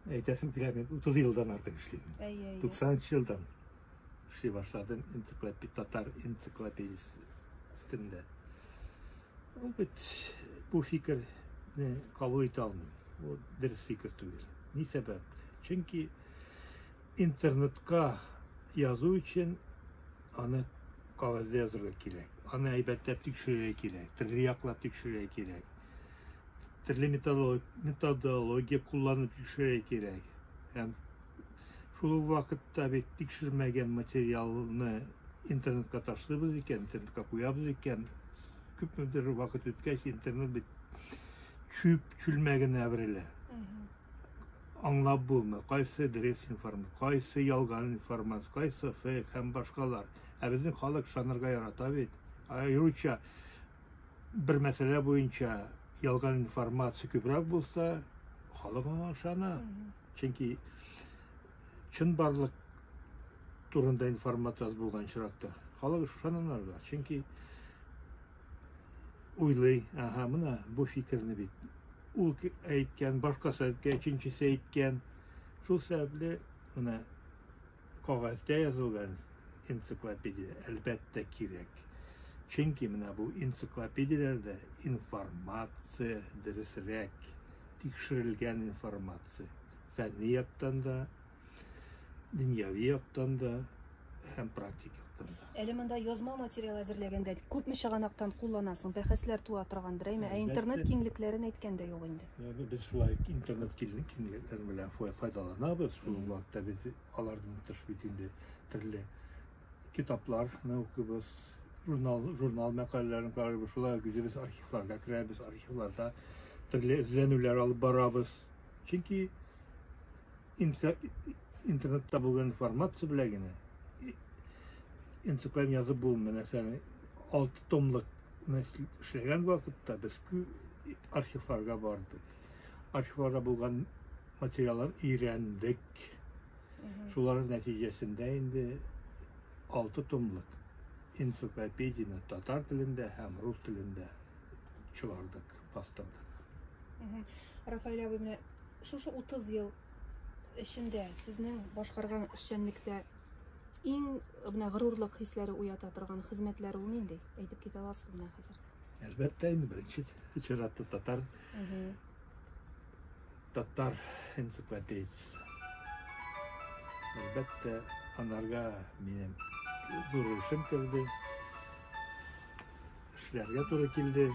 Әйтәсем килә, мин 30 елдан артык эшлим. 90 елдан эшли башладым энциклопедия, татар энциклопедиясе өстендә. Ул бит бу фикерне кабул итә алмыйм. Ул дөрес фикер түгел. Ни сәбәп? Чөнки интернетка язу өчен аны кагазьдә язырга кирәк. Аны әйбәтләп тикшерергә кирәк, төрле яклап тикшерергә кирәк. төрле методология кулланып тикшерә кирәк. Һәм шул ук вакытта бит тикшермәгән материалны интернетка ташлыйбыз икән, интернетка куябыз икән, күпмедер вакыт үткәч интернет бит чүп чүлмәгенә әверелә. Аңлап булмый, кайсы дөрес информация, кайсы ялган информация, кайсы фейк һәм башкалар. Ә безнең халык шанырга ярата бит. Аеруча бер мәсьәлә буенча ялган информация күбрәк булса, халык аңа ышана. Чөнки чын барлык турында информация аз булган очракта халык ышананарга. Чөнки уйлый, ага, менә бу фикерне бит ул әйткән, башкасы әйткән, өченчесе әйткән. Шул сәбәпле менә Кагазьдә язылган энциклопедия, әлбәттә, кирәк. Чөнки менә бу энциклопедияләрдә информация дөресрәк, тикшерелгән информация. Фәнни яктан да, дөньяви яктан да һәм практик яктан да. Әле монда язма материал әзерләгәндә күпме чыганактан кулланасың, бәхәсләр туа торгандыр, әйме, ә интернет киңлекләрен әйткән дә юк инде. Без шулай интернет киңлекләре белән файдаланабыз. Шул вакытта без алардан тыш бит инде төрле китапларны укыбыз, журнал, журнал мәкаләләрен карыйбыз, шулай үзебез архивларга керәбез, архивларда төрле эзләнүләр алып барабыз. Чөнки Интернетта булган информация белә генә энциклопедия язып булмый. Нәрсәне алты томлыкны эшләгән вакытта без архивларга бардык. Архивларда булган материаллар өйрәндек. Шулар нәтиҗәсендә инде алты томлык энциклопедияне татар телендә һәм рус телендә чыгардык. астында. Рафаэль абый, менә шушы 30 ел эчендә сезнең башкарган эшчәнлектә иң менә горурлык хисләре уята торган хезмәтләр ул нинди? Әйтеп китә аласызмы менә хәзер? Әлбәттә, инде беренче чиратта татар татар энциклопедиясе. Әлбәттә, анарга минем зур эшем керде. Эшләргә туры килде.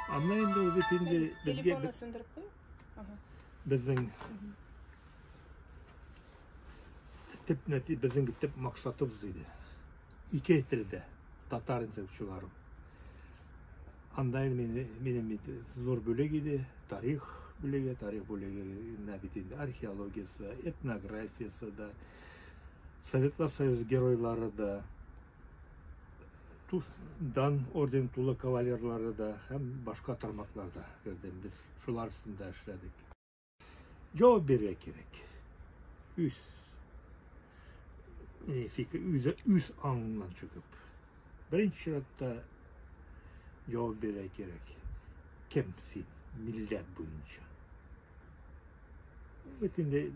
Анда инде ул бит инде безгә Телефонны сүндереп куймы? Ага. безнең төп нәти безнең төп максатыбыз иде. Ике телдә татар итеп чыгару. Анда инде мине- минем бит зур бүлек иде, тарих бүлеге, тарих бүлегенә бит инде археологиясе, этнографиясе да, Советлар Союзы геройлары да, Туз дан орден тулы кавалерлары да һәм башка тармакларда кердем. Без шулар өстендә эшләдек. Җавап бирергә кирәк. Үз э, фикер, үз, үз аңыннан чыгып. Беренче чиратта җавап бирергә кирәк. Кем син милләт буенча? Бөтенләй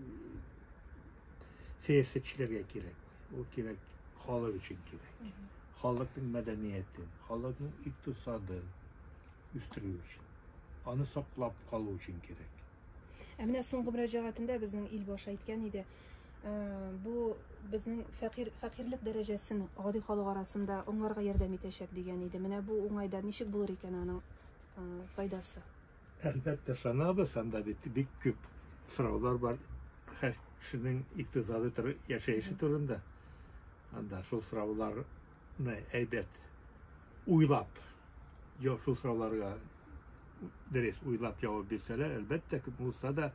сәясәтчеләргә кирәк. Ул кирәк, халык өчен кирәк. Халыкның мәдәниятен, халыкның икътисадын үстерү өчен, аны саклап калу өчен кирәк. Ә менә соңгы мөрәҗәгатендә безнең ил башы әйткән иде, ә, бу безнең фәкир, фәкирлек дәрәҗәсен гади халык арасында аңларга ярдәм итәчәк дигән иде. Менә бу уңайда ничек булыр икән аның файдасы? Әлбәттә ышанабыз, анда бит бик күп сораулар бар һәр кешенең иктисады тор, яшәеше турында. Анда шул сорауларны әйбәт уйлап, я шул сорауларга дөрес уйлап җавап бирсәләр, әлбәттә күп булса да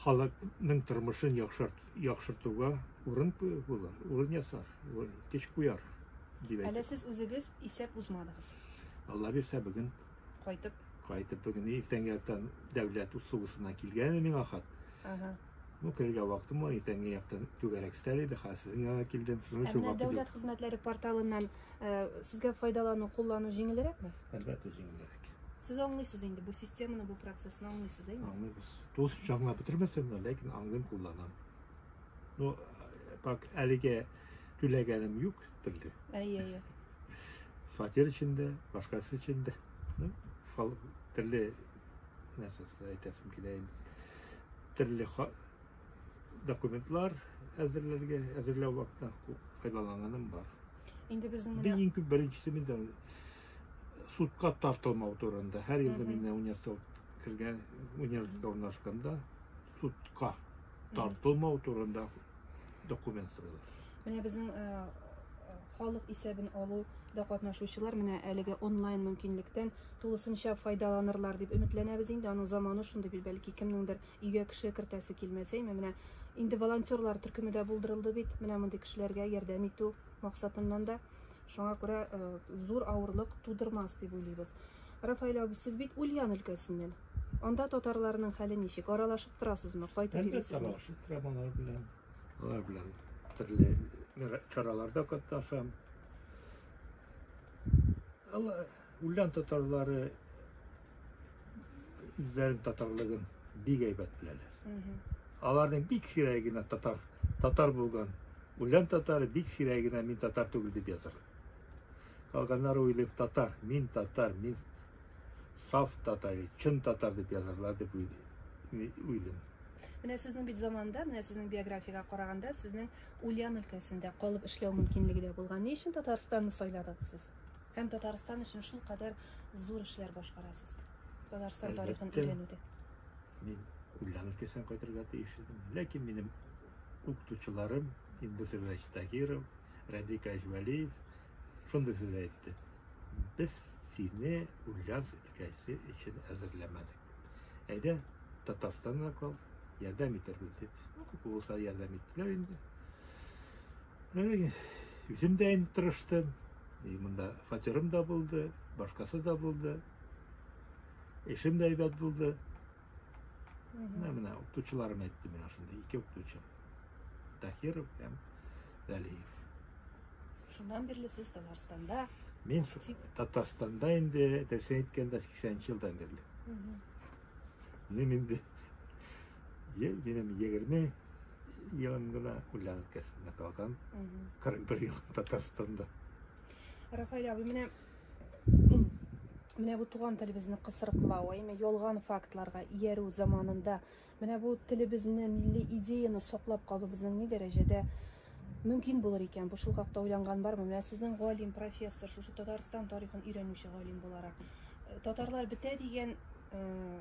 халыкның тормышын яхшырт, яхшыртуга урын куй- булыр, урын ясар, урын, көч куяр дип Әле әйтеп. сез үзегез исәп узмадыгыз. Алла бирсә бүген кайтып. Кайтып бүген иртәнге яктан дәүләт услугысына килгән миңа хат. Ага. Ну, керергә вакытым бар, иртәнге яктан түгәрәк стәр иде, хәзер сезнең янга килдем. Шуның өчен вакыт. Дәүләт хезмәтләре порталыннан э, сезгә файдалану, куллану җиңелрәкме? Әлбәттә, җиңелрәк. Сез аңлыйсыз инде бу системаны, бу процессны аңлыйсыз, әйме? Аңлыйбыз. Тулысынча аңлап бетермәсәм дә, ләкин аңлыйм, кулланам. Ну, пак э, әлегә түләгәнем юк телле. Әйе, әйе. Фатир өчен дә, башкасы өчен дә. Төрле нәрсәсе әйтәсем килә инде. Төрле документлар әзерләргә, әзерләү вакытта файдаланганым бар. Инде безнең менә Бин күп беренчесе миндә судка тартылмау турында. Һәр елда мин университет кергән, университетка урнашканда судка тартылмау турында документ сорыйлар. Менә безнең э, э, халык исәбен алуда катнашучылар менә әлеге онлайн мөмкинлектән тулысынча файдаланырлар дип өметләнәбез инде. Аның заманы шундый бит, бәлки кемнеңдер өйгә кеше кертәсе килмәсә, менә инде волонтерлар төркеме дә булдырылды бит. Менә мондый кешеләргә ярдәм итү максатыннан да Шуңа күрә э, зур авырлык тудырмас дип уйлыйбыз. Рафаэль абый, сез бит Ульян өлкәсеннән. Анда татарларның хәле ничек? Аралашып торасызмы? Кайтып Әлбәттә, йөрисезме? аралашып торам алар белән. Алар белән төрле мира- чараларда катнашам. Алар, Ульян татарлары үзләрен татарлыгын бик әйбәт беләләр. Аларның бик сирәге генә татар татар булган. Үлән татары бик сирәге генә мин татар түгел дип язар. Калганнар уйлыйм татар, мин татар, мин саф татар, чын татар дип язарлар дип уйлыйм. Менә сезнең бит заманда, менә сезнең биографиягә караганда, сезнең Ульян өлкәсендә калып эшләү мөмкинлеге дә булган. Ни өчен Татарстанны сайладыгыз сез? Һәм Татарстан өчен шулкадәр зур эшләр башкарасыз. Татарстан тарихын Әлбәттә. өйрәнүдә. Мин Ульяна өлкәсенә кайтырга тиеш идем. Ләкин минем укытучыларым Индус Иванович Тагиров, Радик Әҗвәлиев шундый сүз әйтте. Без сине Ульяновск өлкәсе өчен әзерләмәдек. Әйдә Татарстанга кал, ярдәм итәрбез дип. Күп булса ярдәм иттеләр инде. Үзем дә инде тырыштым. И монда фатирым да булды, башкасы да булды. Эшем дә әйбәт булды. Менә менә укытучыларым әйтте миңа шунда ике укытучым. Тахиров һәм Вәлиев. Шуннан бирле сез Татарстанда? Мин Татарстанда инде дөресен әйткәндә 80 елдан бирле. Минем инде ел минем 20 елын гына үлән өлкәсендә калган. 41 ел Татарстанда. Рафаэль абый, менә менә бу туган телебезне кысрыклау, әйме ялган фактларга иярү заманында менә бу телебезне, милли идеяны саклап калу безнең ни дәрәҗәдә мөмкин булыр икән? Бу шул хакта уйланган бармы? Менә сезнең галим, профессор, шушы Татарстан тарихын өйрәнүче галим буларак, э, татарлар бетә дигән э,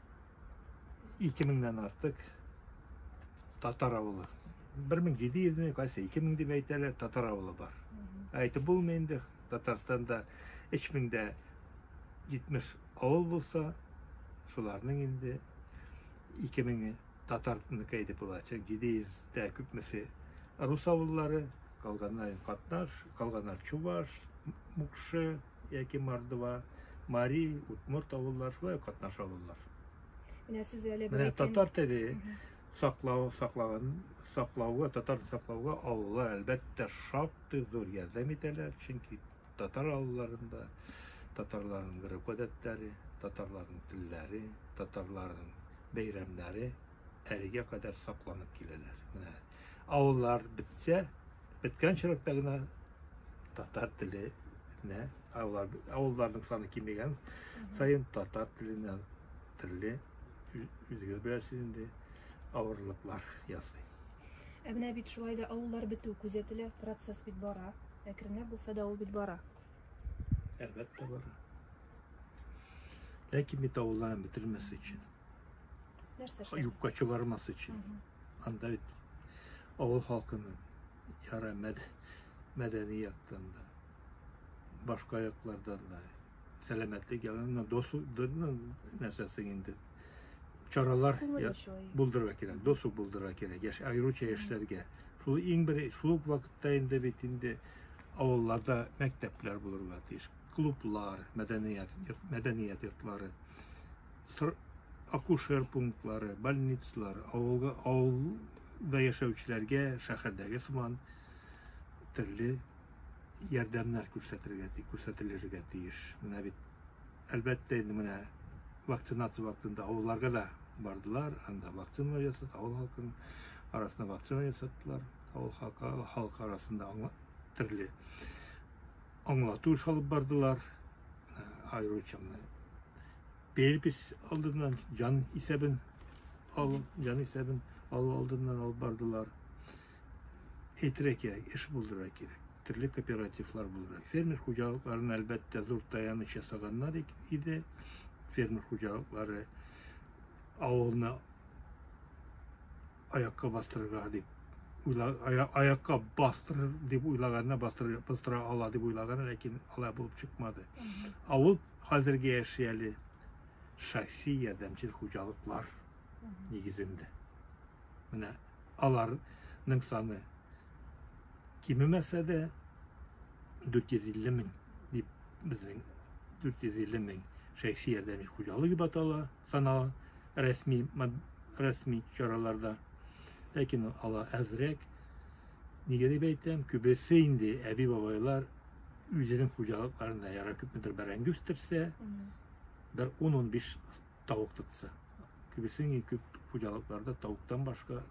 ике меңнән артык татар авылы. Бер мең җиде йөз мең, кайсы ике мең дип әйтәләр, татар авылы бар. Әйтеп булмый инде, Татарстанда өч меңдә җитмеш авыл булса, шуларның инде ике меңе татарныкы әйтеп булачак, җиде йөздә күпмесе рус авыллары, калганнар катнаш, калганнар чуваш, мукшы, яки Мордва, Мари, Удмурт авыллар шулай катнаша алалар. Менә сез әле Менә татар теле саклау саклаган саклауга, татар саклауга авыллар әлбәттә шактый зур ярдәм итәләр, чөнки татар авылларында татарларның гореф-гадәтләре, татарларның телләре, татарларның бәйрәмнәре әлегә кадәр сакланып киләләр. Менә Авыллар бетсә, беткән чирәктә генә татар теле не авыллар авылларның саны кимегән саен татар теленә төрле үзегез беләсез инде авырлыклар ясый ә менә бит шулай да авыллар бетү күзәтелә процесс бит бара әкренләп булса да ул бит бара әлбәттә бара ләкин бит авылларны бетермәс өчен Нәрсә эшләп? Юкка чыгармас өчен. Анда бит авыл халкының яра мәдәни яктан да, башка яклардан да сәламәтлек ягыннан досу нәрсәсе инде чаралар булдырырга кирәк, досу булдырырга кирәк, яшь аеруча яшьләргә. Шул иң бер шул вакытта инде бит инде авылларда мәктәпләр булырга тиеш клублар мәдәният мәдәният йортлары тор акушер пунктлары, больницалар, авылга авылда яшәүчеләргә шәһәрдәге сыман төрле ярдәмнәр күрсәтергә ти, күрсәтелергә тиеш. Менә бит әлбәттә инде менә вакцинация вакытында авылларга да бардылар, анда вакцина ясады, авыл халкының арасында вакцина ясаттылар, авыл халкы, халкы арасында аңла, төрле аңлату эш алып бардылар, аеруча менә перепись алдыннан җан исәбен алып, җан исәбен алу алдыннан алып бардылар. Әйтергә кирәк, эш булдырырга кирәк. Төрле кооперативлар булдырырга. Фермер хуҗалыкларын әлбәттә зур таяныч ясаганнар иде. Фермер хуҗалыклары авылны аякка бастырырга дип аякка бастырыр дип уйлаганына бастыра ала дип уйлаганы ләкин алай булып чыкмады ә ул хәзерге яши әле шәхси ярдәмчел хуҗалыклар нигезендә менә аларның саны кимемәсә дә дүрт йөз илле мең дип безнең дүрт йөз илле мең шәхси ярдәмчел хуҗалык дип атала канал рәсми рәсми чараларда. Ләкин ала әзрәк. Нигә дип әйтәм, күбесе инде әби бабайлар үзенең хуҗалыкларында яра күпмедер бәрәңге үстерсә, бер 10-15 тавык тотса. Күбесе күп хуҗалыкларда тавыктан башка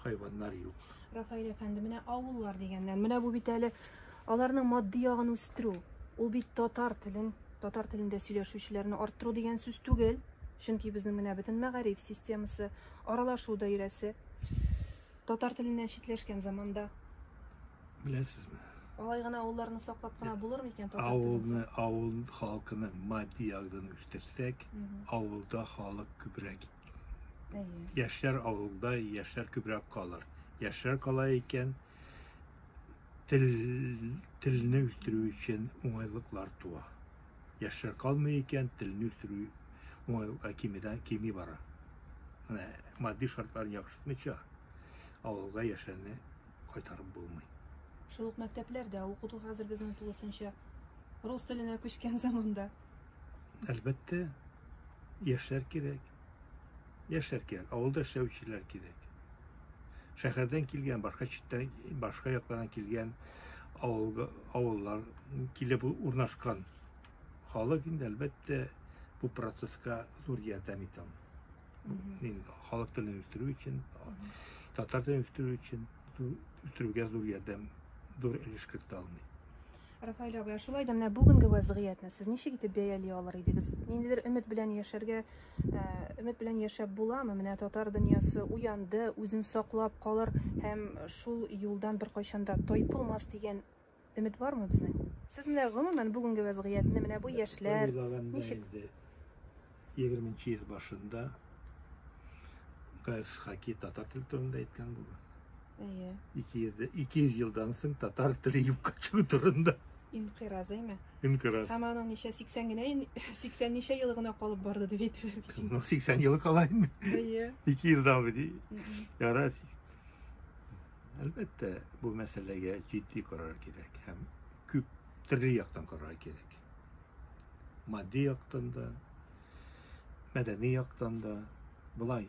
хайваннар юк. Рафаэль әфәнде, менә авыллар дигәннән, менә бу бит әле аларның матди ягын үстерү. Ул бит татар телен, татар телендә сөйләшүчеләрне арттыру дигән сүз түгел. Чөнки безнең менә бөтен мәгариф системасы, аралашу даирәсе татар теленнән читләшкән заманда. Беләсезме? Алай гына авылларны саклап кына булыр микән татар Авылны, авыл халкының матди ягын үстерсәк, авылда халык күбрәк Әйе. Яшьләр авылда, яшьләр күбрәк калыр. Яшьләр кала икән, тел, телне үстерү өчен уңайлыклар туа. Яшьләр калмый икән, телне үстерү уңайлыклар кимедән кими бара. Менә матди шартларын яхшыртмыйча, авылга яшьләрне кайтарып булмый. Шул ук мәктәпләрдә укыту хәзер безнең тулысынча рус теленә күчкән заманда. Әлбәттә, яшьләр кирәк. Яшьләр кирәк, авылда эшләүчеләр кирәк. Шәһәрдән килгән, башка читтән, башка яклардан килгән авылга, авыллар килеп урнашкан халык инде әлбәттә бу процесска зур ярдәм итә. Халык телен үстерү өчен, татар телен үстерү өчен үстерүгә зур ярдәм, зур өлеш кертә алмый. Рафаэль абый, ә шулай да менә бүгенге вәзгыятьне сез ничек итеп бәяли алыр идегез? Ниндидер өмет белән яшәргә, өмет белән яшәп буламы? Менә татар дөньясы уянды, үзен саклап калыр һәм шул юлдан беркайчан да тайпылмас дигән өмет бармы безнең? Сез менә гомумән бүгенге вәзгыятьне, менә бу яшьләр ничек? 20 нче йөз башында Гайс Хаки татар теле турында әйткән булды. Әйе. 200 200 елдан соң татар теле юкка чыгу турында. Инкыйраз, әйме? Инкыйраз. Һәм аның ничә 80 генә 80 ничә ел гына калып барды дип әйтәләр. Ну 80 ел кала инде. Әйе. 200 да бу ди. Ярар. Әлбәттә, бу мәсьәләгә җитди карар кирәк һәм күп төрле яктан карар кирәк. Матди яктан да, мәдәни яктан да болай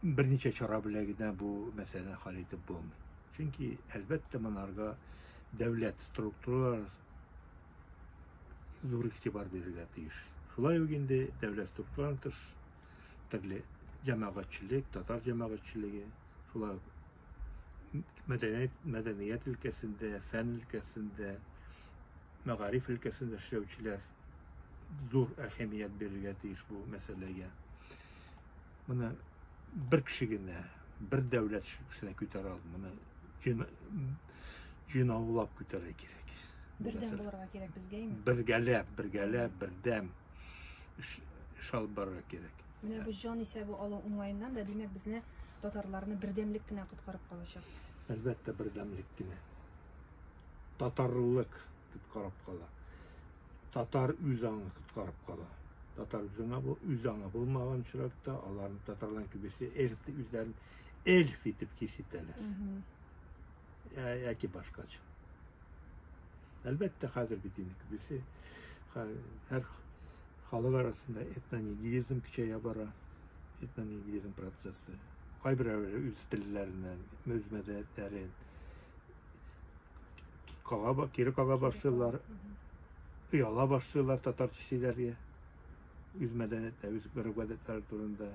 берничә чара белән генә бу мәсьәләне хәл итеп булмый. Чөнки, әлбәттә, монарга дәүләт структуралары зур игътибар бирергә тиеш. Шулай ук инде дәүләт структураларының тыш төрле җәмәгатьчелек, татар җәмәгатьчелеге, шулай ук мәдәният, мәдәният өлкәсендә, фән өлкәсендә, мәгариф өлкәсендә эшләүчеләр зур әһәмият бирергә тиеш бу мәсьәләгә. Моны бер кеше генә, бер дәүләт кешесенә күтәрә алмый. Моны җыйнаулап күтәрә кирәк. Бердәм булырга кирәк безгә инде. Бергәләп, бергәләп, бердәм. эш алып барырга кирәк. Менә бу җан исәбе алу уңаеннан да, димәк, безне татарларны бердәмлек кенә коткарып калачак. Әлбәттә, бердәмлек кенә. Татарлык коткарып кала. Татар үз аңы коткарып кала. Татар үз аңы бу, үз аңы булмаган очракта, аларны татарларның күбесе эльф үзләрен эльф итеп хис итәләр. яки башкача. Әлбәттә, хәзер бит инде күбесе һәр халык арасында этнонигилизм көчәя бара. Этнонигилизм процессы. Кайберәүләре үз телләреннән, үз мәдәниятләрен кага, кире кага башлыйлар, ояла башлыйлар татарча сөйләргә. Үз мәдәниятләре, үз гореф-гадәтләре турында.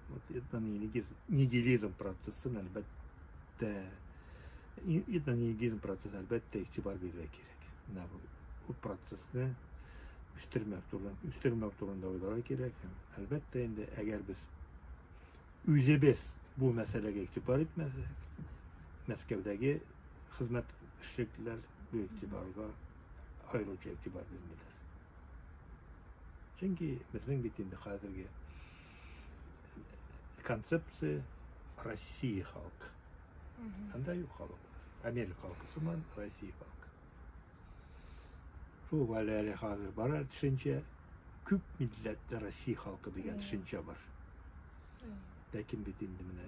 Вот это нигилизм, нигилизм процессын әлбәттә это нигилизм процесс әлбәттә игътибар бирергә кирәк. Менә бу ул процессны үстермәү турында, үстермәү турында уйларга кирәк. Әлбәттә инде, әгәр без үзебез бу мәсьәләгә игътибар итмәсәк, Мәскәүдәге хезмәт эшлеклеләр бу игътибарга аеруча игътибар бирмиләр. Чөнки безнең бит инде хәзерге концепция России халкы. Анда юк халык. Америка халкы сыман Россия халкы. Шул әле әле хәзер бар әле төшенчә күп милләтле Россия халкы дигән төшенчә бар. Ләкин бит инде менә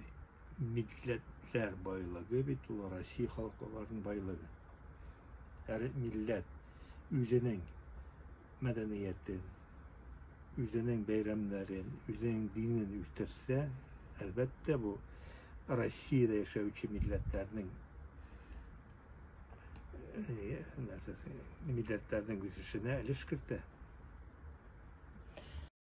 милләтләр байлыгы бит ул Россия халыкларының байлыгы. Һәр милләт үзенең мәдәниятен, үзенең бәйрәмнәрен, үзенең динен үстерсә, әлбәттә, бу Россиядә яшәүче милләтләрнең милләтләрнең үсешенә өлеш кертә.